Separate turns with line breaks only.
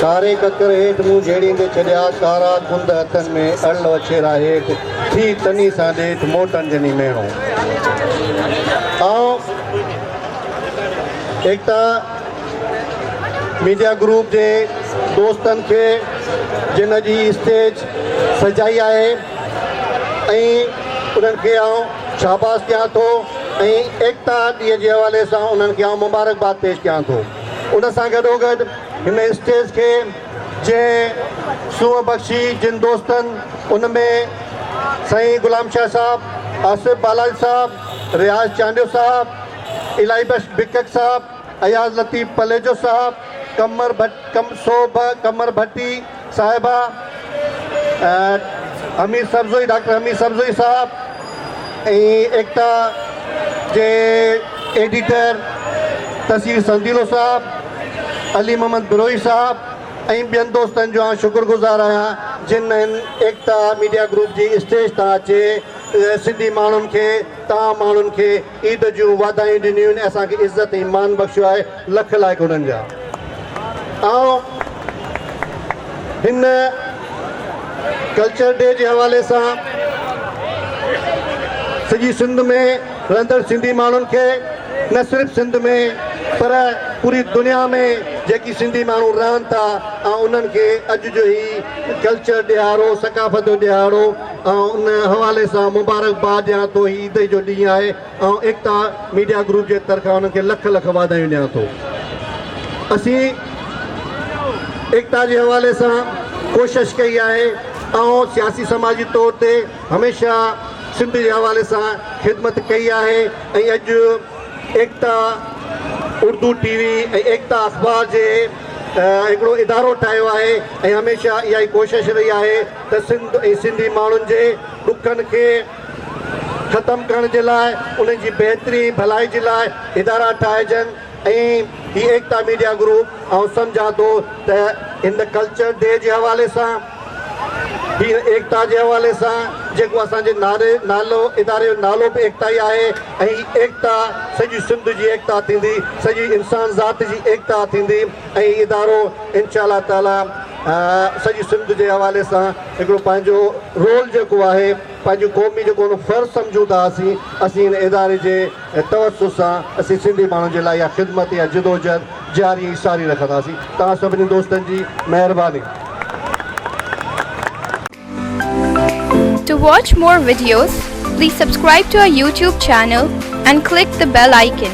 ڪاري ڪڪر هيٺ مون جهيڙيندي ڇڏيا، ڪارا ڪنڌ هٿن ۾ اڙل وڇيرا هيٺ، ٿي تني سان ڏيٺ، موٽڻ جني ميڻو. آئون ايڪتا ميڊيا گروپ جي دوستن کي جن اڄ هي اسٽيج سجائي آهي، ۽ انهن کي آئون شاباس ڏيان ٿو ۽ ايڪتا ڏينهن جي حوالي سان انهن کي آئون مبارڪباد پيش ڪيان ٿو. ان سان گڏوگڏ هن اسٽيج کي جنهن سونهن بخشي جن دوستن ان ۾ سائين غلام شاهه صاحب، آصف بالاچ صاحب، رياض چانڊيو صاحب، الاهي بخش بڪڪ صاحب، اياز لطيف پليجو صاحب، قمر ڀٽ، سوڀ قمر ڀٽي صاحبه، حميد سرزوئي، ڊاڪٽر حميد سرزوئي صاحب ۽ ايڪتا جي ايڊيٽر تصوير سنديلو صاحب، علي محمد بروهي صاحب ۽ ٻين دوستن جو آئون شڪر گذار آهيان جن هن ايڪتا ميڊيا گروپ جي اسٽيج تان اچي سنڌي ماڻهن کي توهان ماڻهن کي عيد جون واڌايون ڏنيون آهن ۽ اسان کي عزت ۽ مان بخشيو آهي، لک لائق انهن جا. آئون هن ڪلچر ڊي جي حوالي سان سڄي سنڌ ۾ رهندڙ سنڌي ماڻهن کي نه صرف سنڌ ۾ پر پوري دنيا ۾ جيڪي سنڌي ماڻهو رهن ٿا آئون انهن کي اڄ جو هي ڪلچر ڏهاڙو ثقافت جو ڏهاڙو آئون ان حوالي سان مبارڪباد ڏيان ٿو هي عيد جو ڏينهن آهي آئون ايڪتا ميڊيا گروپ جي طرفان انهن کي لک لک واڌايون ڏيان ٿو اسين ايڪتا جي حوالي سان ڪوشش ڪئي آهي آئون سياسي سماجي طور تي هميشه سنڌ جي حوالي سان خدمت ڪئي آهي ۽ اڄ ايڪتا اردو ٽي وي ۽ ايڪتا اخبار جي هڪڙو ادارو ٺاهيو آهي ۽ هميشه اها ئي ڪوشش رهي آهي ته سنڌ ۽ سنڌي ماڻهن جي ڏکن کي ختم ڪرڻ جي لاء انهن جي بهتري ۽ ڀلائي جي لاء ادارا ٺاهجن ۽ هي ايڪتا ميڊيا گروپ آئون سمجهان ٿو ته هن ڪلچر ڊي جي حوالي سان هي ايڪتا جي حوالي سان جيڪو اسان جي نعري نالو اداري جو نالو به ايڪتا ئي آهي ۽ هي ايڪتا سڄي سنڌ جي ايڪتا ٿيندي سڄي انسان ذات جي ايڪتا ٿيندي. هي ادارو انشاء الله تعالي سڄي سنڌ جي حوالي سان هڪڙو پنهنجو رول جيڪو آهي پنهنجي قومي جيڪو هن فرض سمجهون ٿا اسين اسين هن اداري جي توسط سان اسين سنڌي ماڻهن جي لاء اها خدمت اها جدوجهد جاري ۽ ساري رکنداسين توهان سڀني دوستن جي مهرباني.
To watch more videos, please subscribe to our YouTube channel and click the bell icon.